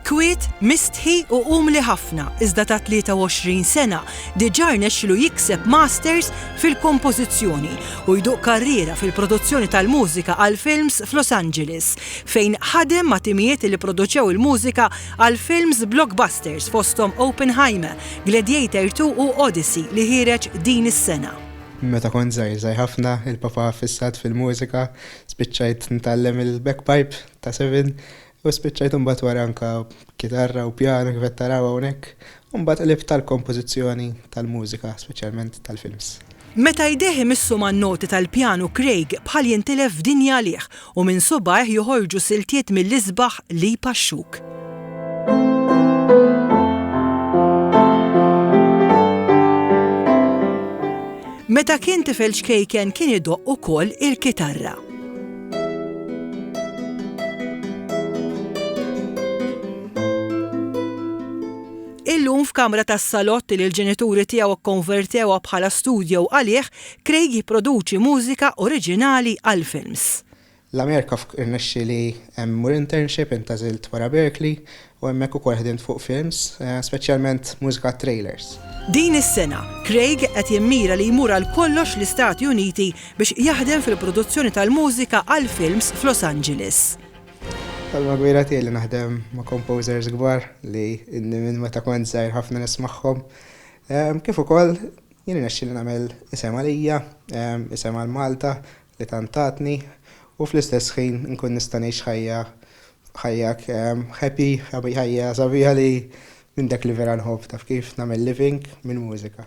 Kwiet, mistħi u umli ħafna iżda ta' 23 sena diġà rnexxilu jikseb Masters fil-Kompożizzjoni u jduq karriera fil-produzzjoni tal-mużika għal films f'Los Angeles, fejn ħadem ma' timijiet li pproduċew il-mużika għal films blockbusters fosthom Oppenheimer, Gladiator ii u Odyssey li ħiereġ din is-sena. Meta kont żgħir żgħir ħafna, il-papa fissat fil-mużika, spiċċajt nitgħallem il-bagpipe ta' sebgħin, U spiċċajt imbagħad wara anke b'kitarra u pjanu kif qed taraw hawnhekk, u mbagħad qlibt għall-kompożizzjoni tal-mużika, speċjalment tal-films. Meta jdejh imissu man-noti tal-pjanu Craig bħal jintilef f'dinja għalih u minn subgħajh joħorġu siltiet mill-isbaħ li jpaxxuk. Meta kien tifel ċkejken kien idoqq ukoll il-kitarra. Illum f'kamra tas-salott li l-ġenituri tiegħu kkonvertewha bħala studjo għalih, Craig jipproduċi mużika oriġinali għall-films. L-Amerika irnexxieli mmur internship intgħażilt wara Berkeley u hemmhekk ukoll ħdimt fuq films, speċjalment mużika għat-trailers. Din is-sena, Craig qed jimmira li jmur għal kollox l-Istati Uniti biex jaħdem fil-produzzjoni tal-mużika għal films f'Los Angeles. Ħolma kbira tiegħi li naħdem ma' composers kbar li inni minn meta kont żgħir ħafna nismagħhom. Kif ukoll, jien irnexxieli nagħmel isem għalija, isem għal Malta, li tant tatni u fl-istess ħin inkun nista' ngħix ħajja ħajja happy ħajja sabiħa li minn dak li vera nħobb taf kif nagħmel living mill-mużika.